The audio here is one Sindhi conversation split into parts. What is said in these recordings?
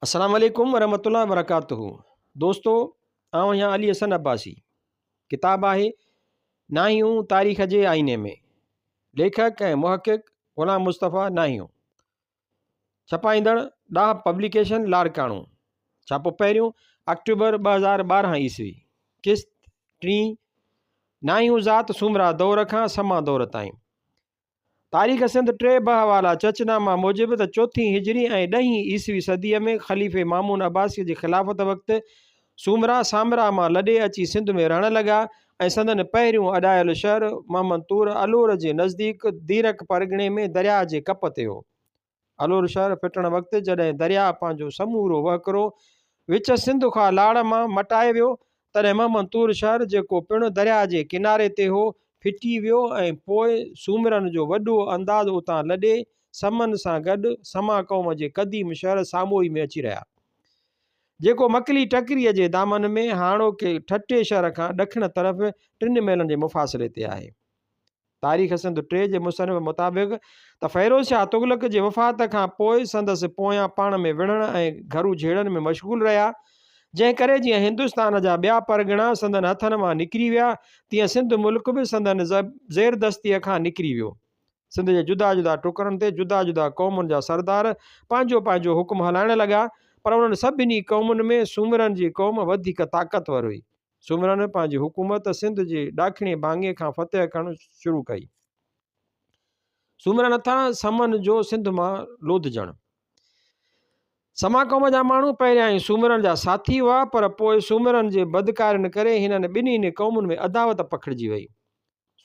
السلام عليڪم ورحمة الله وبرڪاته دوستو آئون آهيان علي حسن عباسي ڪتاب آهي ناهيون تاريخ جي آئيني ۾ ليکڪ ۽ محقق غلام مصطفيٰ ناهيون ڇپائيندڙ ڏاهه پبليڪيشن لاڙڪاڻو ڇاپو پهريون اڪٽوبر ٻه هزار ٻارهن عيسوي قسط ٽي ناهيون ذات سومرا دور کان سما دور تائين تاريخ سنڌ ٽي ٻه حوالا چچ نامه موجب ته چوٿين هجري ۽ ڏهين عيسوي صديء ۾ خليفي مامون عباسيء جي خلافت وقت سومرا سامرا مان لڏي اچي سنڌ ۾ رهڻ لڳا ۽ سندن پهريون اڏايل شهر محمد طور الور جي نزديڪ ديرڪ پرڳڻي ۾ درياهه جي ڪپ تي هو. الور شهر ڦٽڻ وقت جڏهن درياهه پنهنجو سمورو وهڪرو وچ سنڌ کان لاڙ مان مٽائي ويو، تڏهن محمدطور شهر جيڪو پڻ درياهه جي ڪناري تي هو، ڦٽي ويو ۽ پوء سومرن جو وڏو انداز اتان لڏي سمن سان گڏ سما قوم جي قديم شهر ساموئي ۾ اچي رهيا، جيڪو مڪلي ٽڪريء جي دامن ۾ هاڻوڪي ٺٽي شهر کان ڏکڻ طرف ٽن ميلن جي مفاصلي تي آهي. تاريخ سنڌ ٽي جي مصنف مطابق ته فيروز شاهه تغلق جي وفات کان پوء سندس پويان پاڻ ۾ وڙهڻ ۽ گهرو جهيڙن ۾ مشغول رهيا، جنهن ڪري جيئن هندستان جا ٻيا پرڳڻا سندن هٿن مان نڪري ويا، تيئن سنڌ ملڪ به سندن زيردستيء کان نڪري ويو. سنڌ جي جدا جدا ٽڪرن تي جدا جدا قومن جا سردار پنهنجو پنهنجو حڪم هلائڻ لڳا، پر انهن سڀني قومن ۾ سومرن جي قوم وڌيڪ طاقتور هئي. سومرن پنهنجي حڪومت سنڌ جي ڏاکڻي ڀاڱي کان فتح ڪرڻ شروع ڪئي. سومرن هٿان سمن جو سنڌ مان لوڌجڻ. سما قوم جا ماڻهو پهريائين سومرن جا ساٿي هئا پر پوء سومرن جي بدڪارين ڪري هنن ٻنهي قومن ۾ عداوت پکڙجي وئي.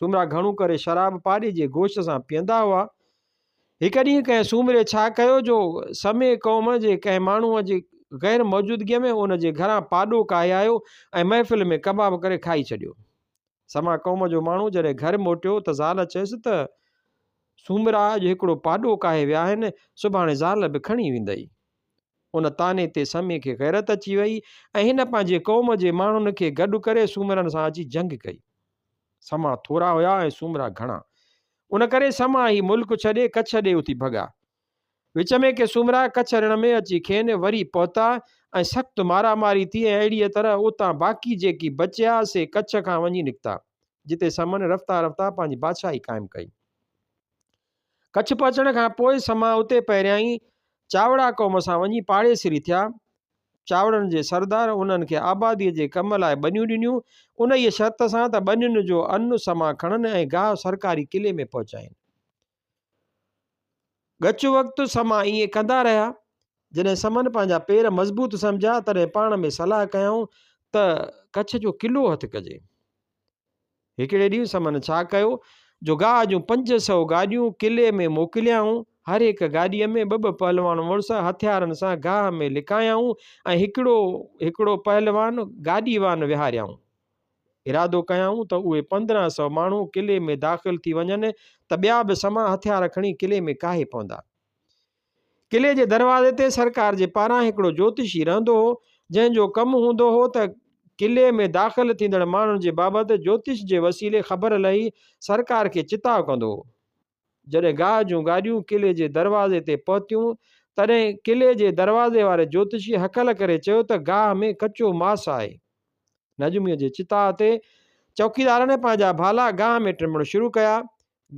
سومرا گهڻو ڪري شراب پاڏي جي گوشت سان پيئندا هئا. هڪ ڏينهن ڪنهن سومري ڇا ڪيو جو سمي قوم جي ڪنهن ماڻهوء جي غير موجودگيء ۾ ان جي گهران پاڏو ڪاهي آيو ۽ محفل ۾ ڪباب ڪري کائي ڇڏيو. سما قوم جو ماڻهو جڏهن گهر موٽيو ته زال چيس ته سومرا اڄ هڪڙو پاڏو ڪاهي ويا آهن، سڀاڻي زال به کڻي ويندئي. ان طعني تي سمي کي غيرت اچي وئي ۽ هن پنهنجي قوم جي ماڻهن کي گڏ ڪري سومرن سان اچي جنگ ڪئي. سما ٿورا هيا ۽ سومرا گهڻا. ان ڪري سما هي ملڪ ڇڏي ڪڇ ڏي اٿي ڀڳا. وچ ۾ ڪي سومرا ڪڇ رڻ ۾ اچي کين وري پهتا ۽ سخت مارا ماري ٿي ۽ اهڙيء طرح اتان باقي جيڪي بچيا سي ڪڇ کان وڃي نڪتا، جتي سمن رفتا رفتا پنهنجي بادشاهي قائم ڪئي. ڪڇ پهچڻ کان پوء سما اتي پهريائين چاوڙا قوم سان وڃي پاڙيسري ٿيا. چاوڙن جي سردار انهن کي آباديء جي ڪم لاء ٻنيون ڏنيون، انهيء شرط سان ته ٻنين جو ان سما کڻن ۽ گاهه سرڪاري قلعي ۾ پهچائين. ڳچ وقت سما ائين ڪندا رهيا. جڏهن سمن پنهنجا پير مضبوط سمجهيا، تڏهن پاڻ ۾ صلاح ڪيائون ته ڪڇ جو قلعو هٿ ڪجي. هڪڙي ڏينهن سمن ڇا ڪيو جو گاهه جون پنج سؤ گاڏيون قلعي ۾ موڪليائون. هر هڪ گاڏيء ۾ ٻه ٻه پهلوان مڙس هٿيارن سان گاهه ۾ لڪايائون ۽ هڪڙو هڪڙو پهلوان گاڏي وان ويهاريائون. ارادو ڪيائون ته اهي پندرهن سؤ ماڻهو قلعي ۾ داخل ٿي وڃن ته ٻيا به سما هٿيار کڻي قلعي ۾ ڪاهي پوندا. قلعي جي دروازي تي سرڪار جي پاران هڪڙو جوتشي رهندو هو، جنهن جو ڪم هوندو هو ته قلعي ۾ داخل ٿيندڙ ماڻهن جي بابت جوتش جي وسيلي خبر لهي سرڪار کي چتاء ڪندو هو. جڏهن گاهه جون گاڏيون قلعي جي دروازي تي پهتيون، تڏهن قلعي جي دروازي واري جوتشي هڪل ڪري چيو ته گاهه ۾ ڪچو ماس آهي. نجميء جي چتاء تي چوڪيدارن پنهنجا ڀالا گاهه ۾ ٽمڻ شروع ڪيا.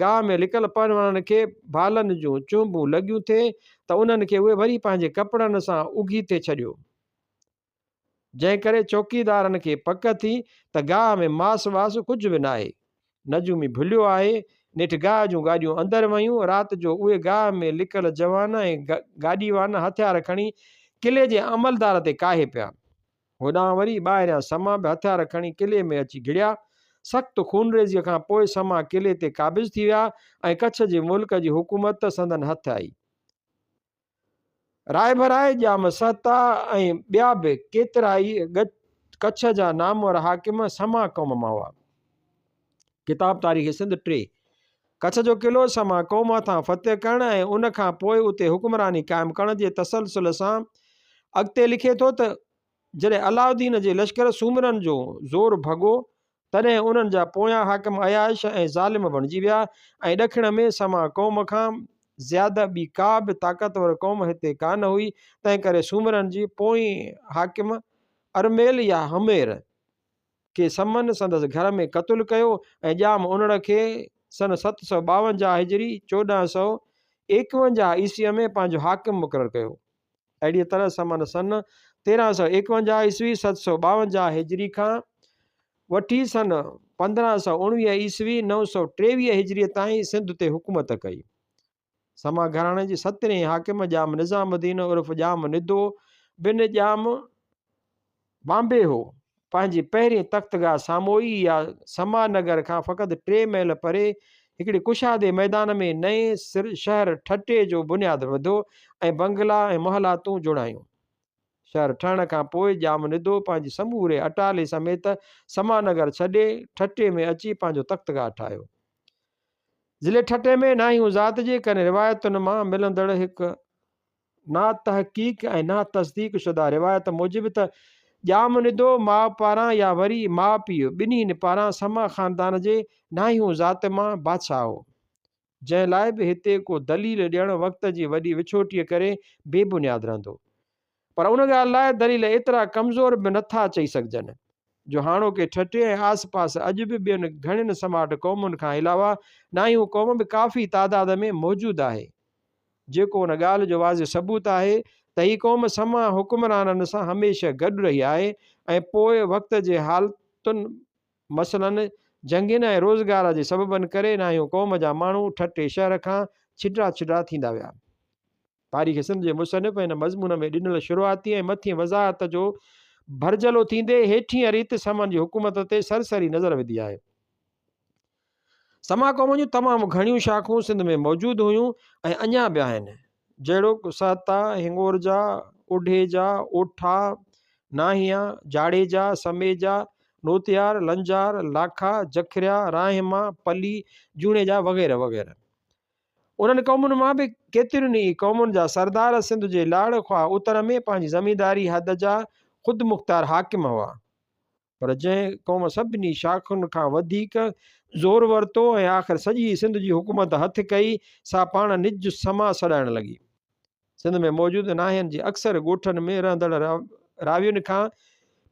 گاهه ۾ لڪل پروڻن کي ڀالن جون چونبون لڳيون ٿي ته انهن کي اهي وري پنهنجي ڪپڙن سان اگهيتي ڇڏيو. جنهن ڪري چوڪيدارن کي پڪ ٿي ته گاهه ۾ ماس واس ڪجهه به ناهي. نجومي ڀليو آهي. نيٺ گاهه جون گاڏيون اندر ويون. رات جو اهي گاهه ۾ لڪل جوان ۽ گاڏيوان هٿيار کڻي قلعي جي عملدار تي ڪاهي پيا. هوڏانهن وري ٻاهريان سما به هٿيار کڻي قلعي ۾ اچي گهڙيا. سخت خونريزيء کان پوء سما قلعي تي قابض ٿي ويا ۽ ڪڇ جي ملڪ جي حڪومت سندن هٿ آئي. رائڀرائي جا مسهتا ۽ ٻيا به ڪيترائي ڳچ ڪڇ جا نامور حاڪم سما قوم مان هئا. ڪتاب تاريخ سنڌ ٽي. ڪڇ جو قلعو سما قوم هٿان فتح ڪرڻ ۽ ان کان پوء اتي حڪمراني قائم ڪرڻ جي تسلسل سان اڳتي لکي ٿو ته جڏهن علاء الدين جي لشڪر سومرن جو زور ڀڳو تڏهن انهن جا پويان حاڪم عياش ۽ ظالم بڻجي ويا ۽ ڏکڻ ۾ سما قوم کان زياده ٻي ڪا به طاقتور قوم هتي ڪا نه هئي تنهن ڪري سومرن جي پوئين حاڪم ارميل يا همير کي سمن سندس گهر ۾ قتل ڪيو ۽ ڄام انڙ کي سن ست سؤ ٻاونجاهه هجري، چوڏهن سؤ ايڪونجاهه عيسويء ۾ پنهنجو حاڪم مقرر ڪيو. اهڙيء طرح سمن سن تيرهن سؤ ايڪونجاهه عيسوي، ست سؤ ٻاونجاهه هجري، کان وٺي سن پندرهن سؤ اڻويهه عيسوي، نو سؤ ٽيويهه هجريء تائين سنڌ تي حڪومت ڪئي. سما گهراڻي جي سترهين حاڪم ڄام نظام الدين عرف ڄام ندو بن ڄام بامبي هو. پنهنجي پهرين تختگاهه ساموئي يا سما نگر کان فقط ٽي ميل پري هڪڙي ڪشادي ميدان ۾ نئين شهر ٺٽي جو بنياد وڌو ۽ بنگلا ۽ محلاتون جوڙايون. شهر ٺهڻ کان پوء ڄام ندو پنهنجي سموري اٽالي سميت سما نگر ڇڏي ٺٽي ۾ اچي پنهنجو تختگاهه ٺاهيو. ضلعي ٺٽي ۾ ناهيون ذات جي ڪن روايتن مان ملندڙ هڪ ناتحقيق ۽ ناتصديق شده روايت موجب ته ڄام ندو ماء پاران يا وري ماء پيء ٻنهين پاران سما خاندان جي ناهيون ذات مان بادشاهه هو جنهن لاء به هتي ڪو دليل ڏيڻ وقت جي وڏي وڇوٽيء ڪري بي بنياد رهندو. پر ان ڳالهه لاء دليل ايترا ڪمزور به نه ٿا چئي سگهجن، جو هاڻوڪي ٺٽي ۽ آس پاس اڄ به ٻين گهڻين سماٽ قومن کان علاوه نائيون قوم به ڪافي تعداد ۾ موجود آهي، جيڪو ان ڳالهه جو واضح ثبوت آهي ته هي قوم سما حڪمرانن سان هميشه گڏ رهي آهي ۽ پوء وقت جي حالتن مثلاً جنگين ۽ روزگار جي سببن ڪري نائيون قوم جا ماڻهو ٺٽي شهر کان ڇڊرا ڇڊرا ٿيندا ويا. تاريخ سنڌ جي مصنف هن مضمون ۾ ڏنل شروعاتي ۽ مٿين وضاحت جو ڀرجهلو ٿيندي هيٺينء ريت سمن جي حڪومت تي سرسري نظر وڌي آهي. سما قوم جون تمام گهڻيون شاخون سنڌ ۾ موجود هيون ۽ اڃا به آهن، جهڙوڪ، سهتا، هنڱورجا، اوڍيجا، اوٺا، ناهيا، جاڙيجا، سميجا، نوتيار، لنجار، لاکا، جکريا، راهما، پلي، جوڻيجا وغيره وغيره. انهن قومن مان به ڪيترين ئي قومن جا سردار سنڌ جي لاڙ خواه اتر ۾ پنهنجي زمينداري حد جا خودمختيار حاڪم هئا، پر جنهن قوم سڀني شاخن کان وڌيڪ زور ورتو ۽ آخر سڄي سنڌ جي حڪومت هٿ ڪئي، سا پاڻ نج سما سڏائڻ لڳي. سنڌ ۾ موجود ناحين جي اڪثر ڳوٺن ۾ رهندڙ راوين کان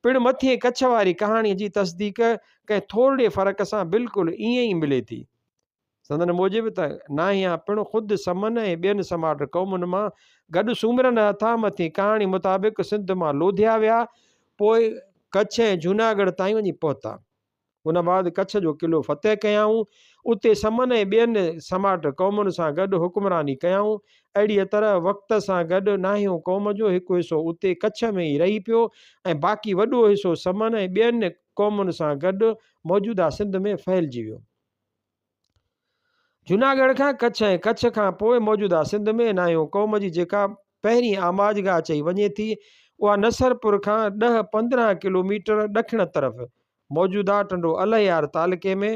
پڻ مٿين ڪڇ واري ڪهاڻي جي تصديق ڪنهن ٿورڙي فرق سان بلڪل ائين ئي ملي ٿي. سندن موجب ته ناهيان پڻ خود سمن ۽ ٻين سماٽ قومن مان گڏ سومرن هٿان مٿين ڪهاڻي مطابق سنڌ مان لوڌيا ويا پوء ڪڇ ۽ جوناڳڙهه تائين وڃي پهتا. ان بعد ڪڇ جو قلعو فتح ڪيائون. اتي سمن ۽ ٻين سماٽ قومن سان گڏ حڪمراني ڪيائون. اهڙيء طرح وقت سان گڏ ناهيون قوم جو هڪ حصو اتي ڪڇ ۾ ئي رهي پيو ۽ باقي وڏو حصو سمن ۽ ٻين قومن سان گڏ موجوده سنڌ ۾ ڦهلجي ويو. جوناڳڙهه کان ڪڇ ۽ ڪڇ کان پوء موجوده سنڌ ۾ ناهيون قوم جي جيڪا پهرين آماجگاهه چئي وڃي ٿي اها نصرپور کان ڏهه پندرهن ڪلوميٽر ڏکڻ طرف موجوده ٽنڊو الهيار تعلقي ۾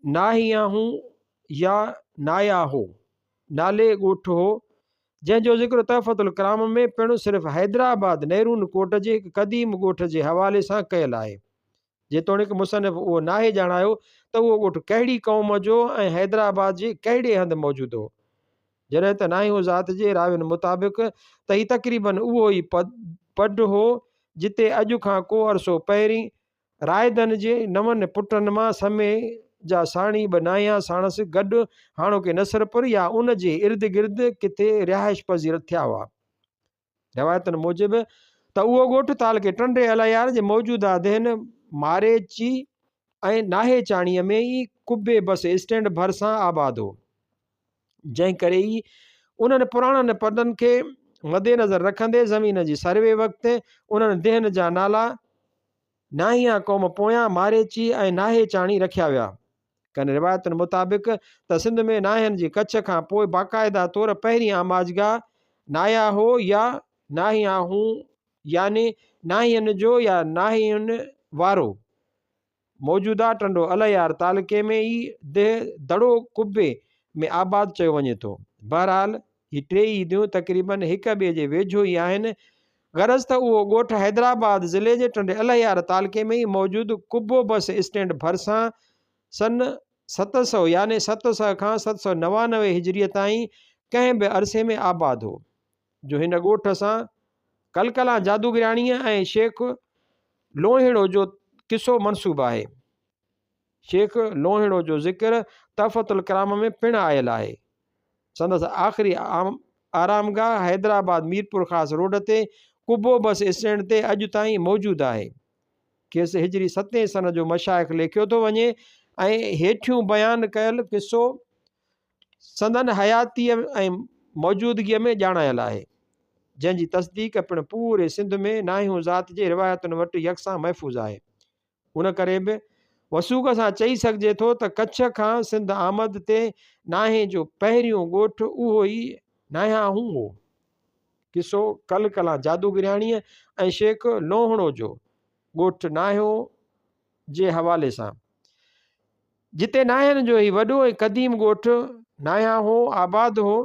ناهياهون يا ناياهو نالي ڳوٺ هو جنهن جو ذڪر تحفت الڪرام ۾ پڻ صرف حيدرآباد نيرون ڪوٽ جي هڪ قديم ڳوٺ جي حوالي سان ڪيل آهي جيتوڻيڪ مصنف اهو ناهي ڄاڻايو ته اهو ڳوٺ ڪهڙي قوم جو ۽ حيدرآباد جي ڪهڙي هنڌ موجود هو. جڏهن ته ناهيون ذات جي راوين مطابق ته هي تقريباً اهو ئي پڊ هو جتي اڄ کان ڪو عرصو پهرين رائدن جي نون پٽن مان سمي جا ساڻي ٻه ناهيان ساڻس گڏ هاڻوڪي نصرپور يا ان جي اردگرد ڪٿي رهائش پذير ٿيا هئا. روايتن موجب ته اهو ڳوٺ تعلقي ٽنڊي الهيار جي موجوده دهن ماريچي ۽ ناهي چاڻي ۾ ئي قبي بس اسٽينڊ ڀرسان آباد هو جنهن ڪري ئي انهن پراڻن پنن کي مدنظر رکندي زمين جي سروي وقت انهن دهن جا نالا ناهيان قوم پويان ماريچي ۽ ناهي چاڻي رکيا ويا ڪن روايتن مطابق ته سنڌ ۾ ناهين جي ڪڇ کان پوء باقاعده طور پهرين آماجگاهه ناهيا هو يا ناهيا هون يعني ناهين جو يا ناهين وارو موجوده ٽنڊو الهيار تعلقي ۾ ئي دهه دڙو قبي ۾ آباد چيو وڃي ٿو. بهرحال هي ٽيئي ديون تقريبن هڪ ٻئي جي ويجهو ئي آهن غرض ته اهو ڳوٺ حيدرآباد ضلعي جي ٽنڊي الهيار تعلقي ۾ ئي موجود قبو بس اسٽينڊ ڀرسان سن ست سؤ يعني ست سؤ کان ست سؤ نوانوي هجريء تائين ڪنهن به عرصي ۾ آباد هو، جو هن ڳوٺ سان ڪلڪلان جادوگرياڻيء ۽ شيخ لونهيڙو جو قصو منسوب آهي. شيخ لوهيڙو جو ذڪر تحفة الڪرام ۾ پڻ آيل آهي. سندس آخري آرامگاهه حيدرآباد ميرپورخاص روڊ تي قبو بس اسٽينڊ تي اڄ تائين موجود آهي. کيس هجري ستين سنه جو مشائخ ليکيو ٿو وڃي ۽ هيٺيون بيان ڪيل قصو سندن حياتيء ۽ موجودگيء ۾ ڄاڻايل آهي، جنهن جي تصديق پڻ پوري سنڌ ۾ ناهيون ذات جي روايتن وٽ يڪسان محفوظ آهي. ان ڪري به وثوق سان چئي سگهجي ٿو ته ڪڇ کان سنڌ آمد تي ناهين جو پهريون ڳوٺ اهو ئي ناهياهون هو. قصو ڪل ڪلان جادوگرياڻيء ۽ شيخ لوهڻو جو ڳوٺ ناهيو جي حوالي سان. جتي ناهين جو هي وڏو ۽ قديم ڳوٺ ناهياهون آباد هو،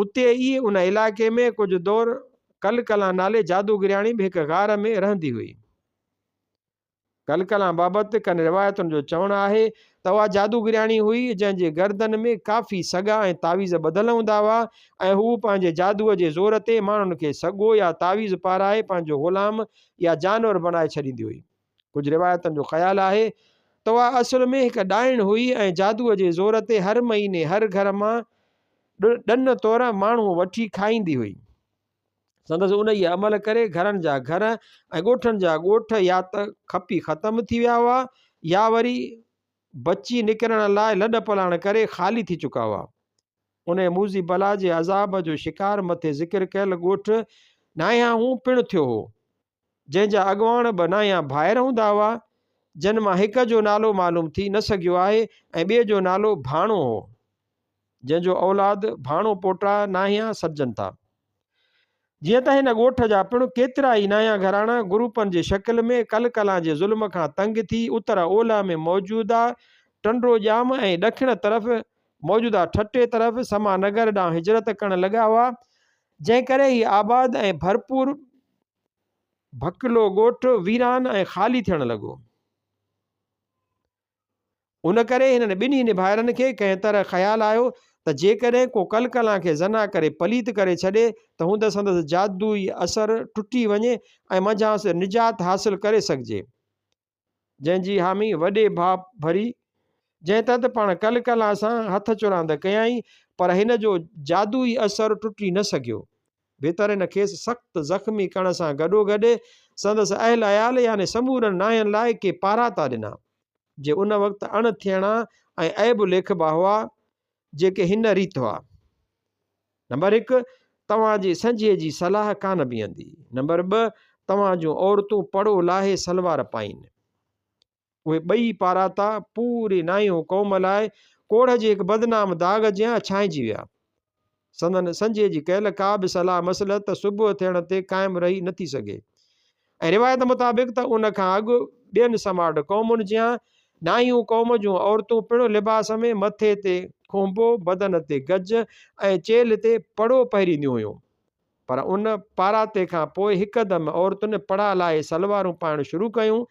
اتي ئي ان علائقي ۾ ڪجهه دور ڪل ڪلان نالي جادوگرياڻي به هڪ غار ۾ رهندي هئي. ڪل ڪلان بابت ڪن روايتن جو چوڻ آهي ته اها جادوگرياڻي هئي جنهن جي گردن ۾ ڪافي سڳا ۽ تعويذ ٻڌل هوندا هئا ۽ هوء پنهنجي جادوء جي زور تي ماڻهن کي سڳو يا تعويذ پارائي پنهنجو غلام يا جانور بڻائي ڇڏيندي هئي. ڪجهه روايتن جو خيال آهي ته اها اصل ۾ هڪ ڏائڻ هئي ۽ جادوء جي زور تي هر مهيني هر گهر مان ڏن طور ماڻهو وٺي کائيندي هئي. سندس انهيء عمل ڪري گهرن جا گهر ۽ ڳوٺن جا ڳوٺ يا ته کپي ختم ٿي ويا هئا يا وري بچي نڪرڻ لاء لڏ پلاڻ ڪري خالي ٿي چڪا هئا. انهيء موذي بلا جي عذاب جو شڪار مٿي ذڪر ڪيل ڳوٺ نائهانهون پڻ ٿيو هو. جنهن جا اڳواڻ به نانهيا ڀائر هوندا هئا، جن مان هڪ جو نالو معلوم ٿي نه سگهيو آهي ۽ ٻئي جو نالو ڀاڻو هو، جنهن جو اولاد ڀاڻو پوٽا نانهيا سڏجن ٿا. جيئن ته هن ڳوٺ جا پڻ ڪيترا ئي نانهيا گهراڻا گروپن جي شڪل ۾ ڪل ڪلان جي ظلم کان تنگ ٿي اتر اولهه ۾ موجوده ٽنڊو ڄام ۽ ڏکڻ طرف موجوده ٺٽي طرف سما نگر ڏانهن هجرت ڪرڻ لڳا هئا، جنهن ڪري هي آباد ۽ ڀرپور ڀڪلو ڳوٺ ويران ۽ خالي ٿيڻ لڳو. ان ڪري هنن ٻنهي نڀائرن کي ڪنهن طرح خيال آيو ته جيڪڏهن ڪو ڪلڪلان کي زنا ڪري پليت ڪري ڇڏي ته هوند سندس جادوئي اثر ٽٽي وڃي ۽ منجهانئس نجات حاصل ڪري سگهجي. جنهن جي حامي وڏي ڀاء ڀري، جنهن تان ته پاڻ ڪل ڪلان سان هٿ چراند ڪيائين، پر هن جو جادوئي اثر ٽٽي نه سگهيو. ڀترين کيس سخت زخمي ڪرڻ سان گڏوگڏ سندس اهل عيال يعني سمورن نانهن لاء ڪي پاراتا ڏنا، جي ان وقت اڻ ٿيڻا ۽ عيب ليکبا هئا، جيڪي هن ريت هئا. نمبر هڪ، توهان جي سنجهي جي صلاح ڪانه بيهندي. نمبر ٻه، توهان جون عورتون پڙو لاهي سلوار پائين. اهي ٻئي پاراتا پوري نائيهو قوم لاء ڪوڙهه جي هڪ بدنام داغ جيان ڇانئجي ويا. سندن سنجهي جي ڪيل ڪا به صلاح مصلحت صبح ٿيڻ تي قائم رهي نٿي سگهي. ۽ روايت مطابق ته ان کان اڳ ٻين سماٽ قومن جيان ڏاهيون قوم جون عورتون پڻ لباس ۾ مٿي تي کونبو، بدن تي گج ۽ چيلهه تي پڙو پهرينديون هيون. پر ان پاراتي کان پوء هڪدم عورتن پڙا لاهي سلوارون پائڻ شروع ڪيون.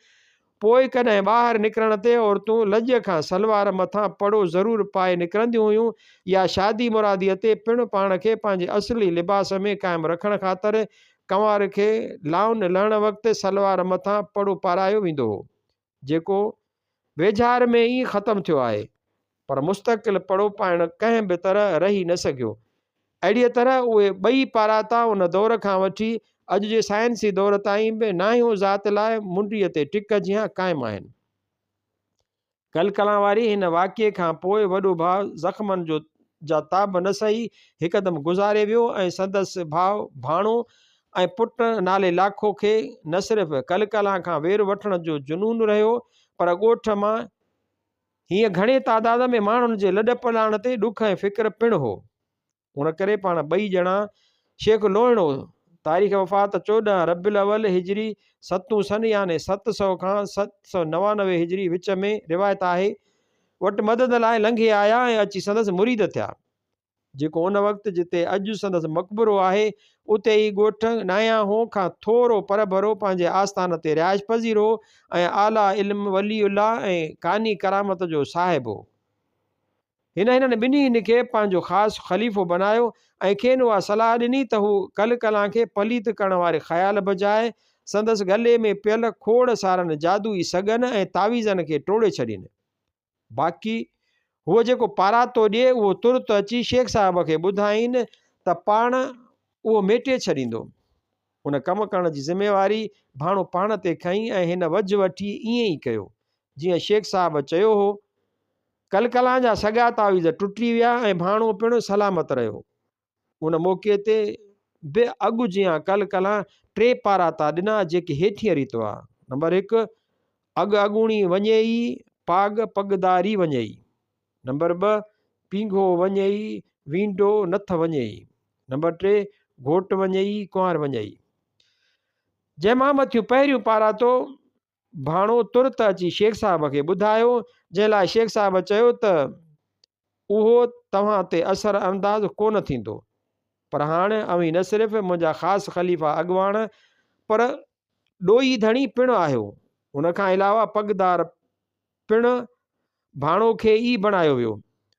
پوء ڪڏهن ٻاهر نڪرڻ تي عورتون لڄ کان سلوار مٿان پڙو ضرور پائي نڪرنديون هيون يا شادي مراديء تي پڻ پاڻ کي پنهنجي اصلي لباس ۾ قائم رکڻ خاطر ڪنوار کي لائون لهڻ وقت سلوار مٿان پڙو پارايو ويندو هو جيڪو ويجهار ۾ ئي ختم ٿيو آهي. پر مستقل پڙو پائڻ ڪنهن به طرح رهي نه سگهيو. اهڙيء طرح اهي ٻئي پاراتا ان دور کان وٺي اڄ جي سائنسي دور تائين به ناهيون ذات لاء منڊيء تي ٽڪ جيان قائم آهن. گل ڪلان واري هن واقعي کان پوء وڏو ڀاء زخمن جو جا تاب نه سهي هڪدم گذاري ويو ۽ سندس ڀاء ڀاڻو ۽ پٽ نالي لاکو کي نه صرف گل ڪلان کان وير وٺڻ جو جنون رهيو پر ڳوٺ مان هينئن گهڻي تعداد ۾ ماڻهن جي لڏپلاڻ تي ڏک ۽ فڪر پڻ هو. ان ڪري پاڻ ٻئي ڄڻا شيخ لوهڻو، تاريخ وفات چوڏهن ربيع الاول هجري، ستون سن يعني ست سؤ کان ست سؤ نوانوي هجري وچ ۾، روايت آهي، وٽ مدد لاء لنگهي آيا ۽ اچي سندس مريد ٿيا. جيڪو ان وقت جتي اڄ سندس مقبرو آهي، اتي ئي ڳوٺ ناياهو کان ٿورو پرڀرو پنهنجي آستان تي رهائش پذير هو ۽ اعليٰ علم، ولي الله ۽ قاني ڪرامت جو صاحب هو. هن هنن ٻنهي هن کي پنهنجو خاص خليفو بنايو ۽ کين اها صلاح ڏني ته هو ڪلڪلان کي پليت ڪرڻ واري خيال بجاء سندس ڳلي ۾ پيل کوڙ سارن جادوئي سڳن ۽ تعويذن کي ٽوڙي ڇڏين. باقي هوء جيڪو پاراتو ڏئي اهو ترت اچي شيخ صاحب کي ٻڌائين ته پاڻ اهو ميٽي ڇڏيندو. ان ڪم ڪرڻ جي ذميواري ڀاڻو پاڻ تي کنئي ۽ هن وجهه وٺي ائين ئي ڪيو جيئن شيخ صاحب چيو هو. ڪلڪلان جا سڳا تعويذ ٽٽي ويا ۽ ڀاڻو پڻ سلامت رهيو. ان موقعي تي به اڳ جيان ڪل ڪلان ٽي پاراتا ڏنا جيڪي هيٺينء ريت هئا، نمبر هڪ، اڳ اڳوڻي وڃي ئي پاڳ پڳداري وڃي ئي، نمبر ٻه، پينگهو وڃي ئي وينڊو نٿ وڃي ئي، نمبر ٽي، گهوٽ وڃي ئي ڪنوار وڃي ئي. جنهن مان مٿيون پهريون پاراتو ڀاڻو ترت اچي شيخ صاحب کي ٻڌايو، جنهن لاء شيخ صاحب چيو ته اهو توهان تي اثر انداز ڪونه ٿيندو، پر هاڻ اوهين نه صرف منهنجا خاص خليفا اڳواڻ پر ڏوهي ڌڻي پڻ آهيو. ان کان علاوه پڳدار پڻ ڀاڻو کي ئي بڻايو ويو.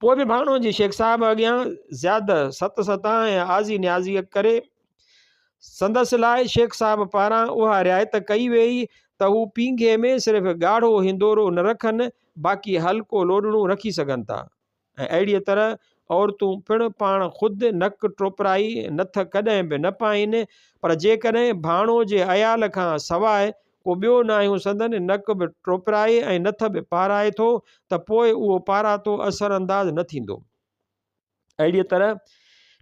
پوء به ڀاڻو جي شيخ صاحب اڳيان زياد ست ستا ۽ آزي نيازي ڪري سندس لاء شيخ صاحب پاران اها رعايت ڪئي ويئي ته هو پينگهي ۾ صرف ڳاڙهو هندورو نه رکن باقي هلڪو لوڏڙون رکي سگهن ٿا ۽ اهڙيء طرح عورتون پڻ پاڻ خود نڪ ٽوپرائي نٿ ڪڏهن به نه پائين پر جيڪڏهن ڀاڻو جي عيال کان سواء ڪو ٻيو ناهي هو سندن نڪ به ٽوپرائي ۽ نٿ به پارائي ٿو ته پوء اهو پاراتو اثرانداز نه ٿيندو. اهڙيء طرح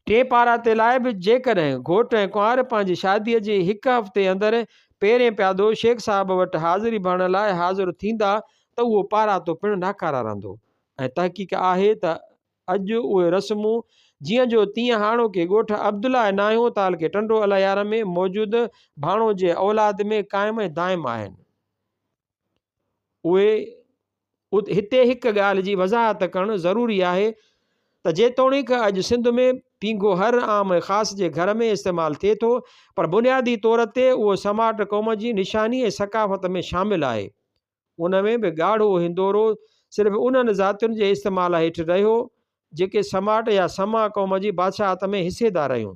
ٽئين پاراتي لاء به جيڪڏهن گهوٽ ۽ ڪنوار پنهنجي شاديء جي هڪ هفتي اندر پهرين پيادو شيخ صاحب وٽ حاضري ڀرڻ لاء حاضر ٿيندا ته اهو پاراتو پڻ ناڪاره رهندو ۽ تحقيق آهي ته اڄ اهي رسمون جيئن جو تيئن هاڻوڪي ڳوٺ عبدالله ۽ ناهيون تعلقي ٽنڊو الهيار ۾ موجود ڀاڻو جي اولاد ۾ قائم ۽ دائم آهن. اهي ات هتي هڪ ڳالهه جي وضاحت ڪرڻ ضروري آهي ته جيتوڻيڪ اڄ سنڌ ۾ پينگهو هر عام ۽ خاص جي گهر ۾ استعمال ٿئي ٿو پر بنيادي طور تي اهو سماٽ قوم جي نشاني ۽ ثقافت ۾ شامل آهي ان ۾ به ڳاڙهو هندورو صرف انهن ذاتين جي استعمال هيٺ رهيو جيڪي سماٽ يا سما قوم جي بادشاهت ۾ حصيدار رهيون.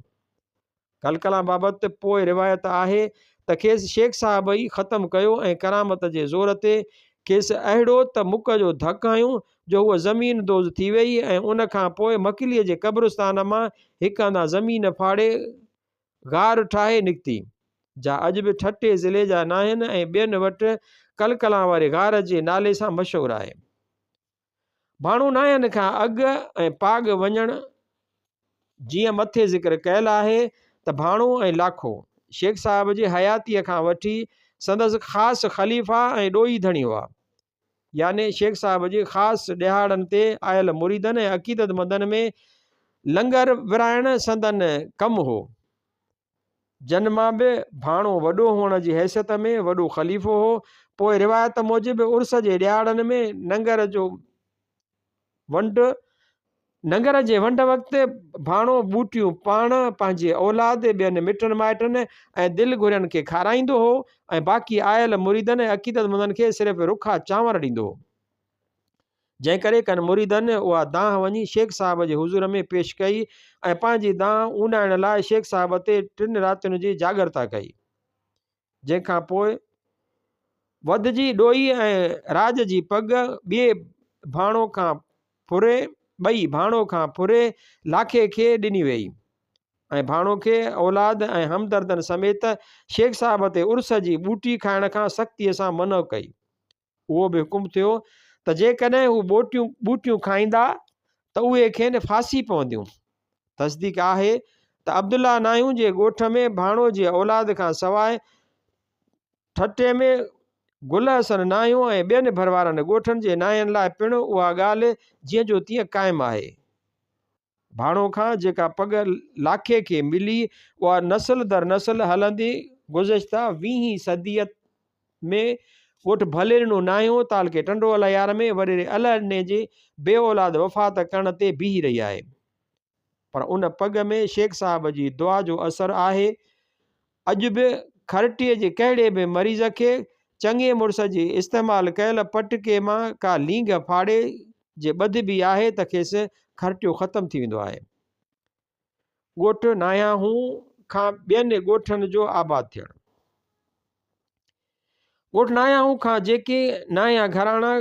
ڪلڪلان بابت پوء روايت آهي ته کيس شيخ صاحب ئي ختم ڪيو ۽ ڪرامت جي زور تي کيس اهڙو ته مک جو ڌڪ هنيون جو هوء زمين دوز ٿي ويئي ۽ ان کان پوء مڪليء جي قبرستان مان هڪ هنڌان زمين ڦاڙي غار ٺاهي نڪتي، جا اڄ به ٺٽي ضلعي جا ناهن ۽ ٻين وٽ ڪلڪلان واري غار جي نالي سان مشهور آهي. ڀانو ناهن کان اڳ ۽ پاڳ وڃڻ جيئن مٿي ذڪر ڪيل آهي ته ڀانو ۽ لاکو شيخ صاحب جي حياتيء کان وٺي سندس خاص خليفا ۽ ڏوهي ڌڻي هئا. يعني شيخ صاحب جي خاص ڏهاڙن تي آيل مريدن ۽ عقيدتمندن ۾ لنگر ورهائڻ سندن ڪم هو. جن مان به ڀاڻو وڏو هئڻ جي حيثيت ۾ وڏو خليفو هو. پوء روايت موجب عرس جي ڏهاڙن ۾ ننگر جو ونڊ، ننگر جي ونڊ وقت ڀاڻو ٻوٽيون پاڻ، پنهنجي اولاد، ٻين مٽن مائٽن ۽ دل گهرين کي کارائيندو هو ۽ باقي آيل مريدن ۽ عقيدتمندن کي صرف رکا چانور ڏيندو هو. جنهن ڪري ڪن مريدن اها دانهن وڃي شيخ صاحب جي حضور ۾ پيش ڪئي ۽ پنهنجي دانهن اونڏائڻ لاء شيخ صاحب تي ٽن راتين جي جاڳرتا ڪئي. جنهن کان پوء وڌجي ڏوئي ۽ راڄ جي پڳ ٻئي ڀاڻو کان ڦري ٻئي ڀاڻو کان ڦري لاکي کي ڏني ويئي ۽ ڀاڻو کي اولاد ۽ همدردن سميت شيخ صاحب تي عرس جي ٻوٽي کائڻ کان سختيء سان منع ڪئي. اهو به حڪم ٿيو ته جيڪڏهن هو ٻوٽيون ٻوٽيون کائيندا ته اهي کين ڦاسي پونديون. تصديق آهي ته عبدالله ناهيون جي ڳوٺ ۾ ڀاڻو جي اولاد کان سواء ٺٽي ۾ گل حسن ناهيو ۽ ٻين ڀروارن ڳوٺن جي ناهين لاء پڻ اها ڳالهه جيئن جو تيئن قائم آهي. ڀاڻو کان جيڪا پڳ لاکي کي ملي، اها نسل در نسل هلندي گذشته ويهين صديء ۾ ڳوٺ ڀليرنو ناهيون تعلقي ٽنڊو الهيار ۾ وڏيري الهڏني جي بي اولاد وفات ڪرڻ تي بيهي رهي آهي. پر ان پڳ ۾ شيخ صاحب جي دعا جو اثر آهي. اڄ به کرٽيء جي ڪهڙي به مريض کي چڱي مڙس جي استعمال ڪيل پٽڪي مان ڪا لينگهه ڦاڙي جي ٻڌبي آهي ته کيس کرٽيو ختم ٿي ويندو آهي. ڳوٺ ناهياهون کان ٻين ڳوٺن جو آباد ٿيڻ. ڳوٺ ناياهون کان جيڪي نايان گهراڻا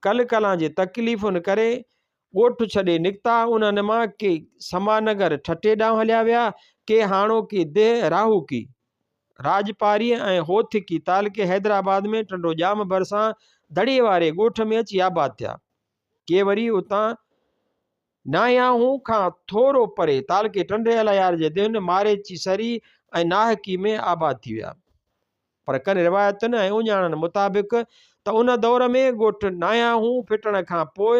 ڪل ڪلان جي تڪليفن ڪري ڳوٺ ڇڏي نڪتا، انهن مان ڪي سما نگر ٺٽي ڏانهن هليا ويا، ڪي هاڻوڪي ديهه راهوڪي، راڄپاريء ۽ هوٿڪي تعلقي حيدرآباد ۾ ٽنڊو ڄام ڀرسان دڙي واري ڳوٺ ۾ اچي آباد ٿيا، ڪي وري اتان ناياهون کان ٿورو پري تعلقي ٽنڊي الهيار جي ديهن ماريچي سري ۽ ناهڪي ۾ آباد ٿي ويا. پر ڪن روايتن ۽ اهڃاڻن مطابق ته ان دور ۾ ڳوٺ ناهياهون ڦٽڻ کان پوء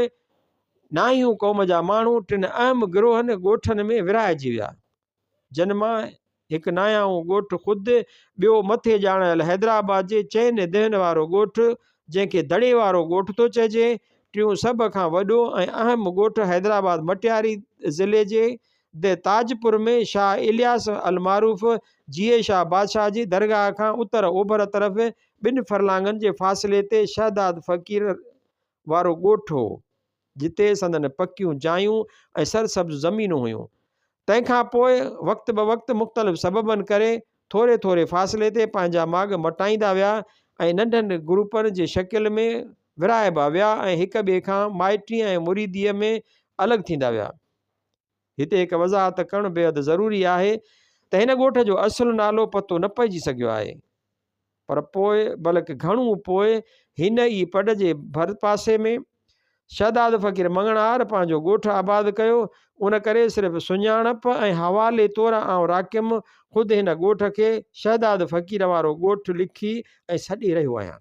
ناهيون قوم جا ماڻهو ٽن اهم گروهن ڳوٺن ۾ ورهائجي ويا، جن مان هڪ ناهياهون ڳوٺ خود، ٻيو مٿي ڄاڻايل حيدرآباد جي چئن ديهن وارو ڳوٺ، جنهن کي دڙي وارو ڳوٺ ٿو چئجي، ٽيون سڀ کان وڏو ۽ اهم ڳوٺ حيدرآباد مٽياري ضلعي جي دي تاجپور ۾ شاهه الياس المعروف جيئي شاهه بادشاهه جي درگاهه کان اتر اوڀر طرف ٻن فرلانگن جي فاصلي تي شهداد فقير وارو ڳوٺ هو، جتي سندن پڪيون جايون ۽ سرسبز زمينون هيون. تنهن کان پوء وقت بوقت مختلف سببن ڪري ٿوري ٿوري فاصلي تي پنهنجا ماڳ مٽائيندا ويا ۽ ننڍن گروپن جي شڪل ۾ ورهائبا ويا ۽ هڪ ٻئي کان مائٽيء ۽ مريديء ۾ الڳ ٿيندا ويا. هتي هڪ وضاحت ڪرڻ بيحد ضروري آهي ته هن ڳوٺ جو اصل نالو پتو نه پئجي سگهيو آهي پر پوء بلڪ گهڻو پوء هن ئي پڊ جي ڀر پاسي ۾ شهداد فقير مڱڻهار پنهنجو ڳوٺ آباد ڪيو ان ڪري صرف سڃاڻپ ۽ حوالي طور آئون راقم خود هن ڳوٺ کي شهداد فقير وارو ڳوٺ لکي ۽ سڏي رهيو آهيان.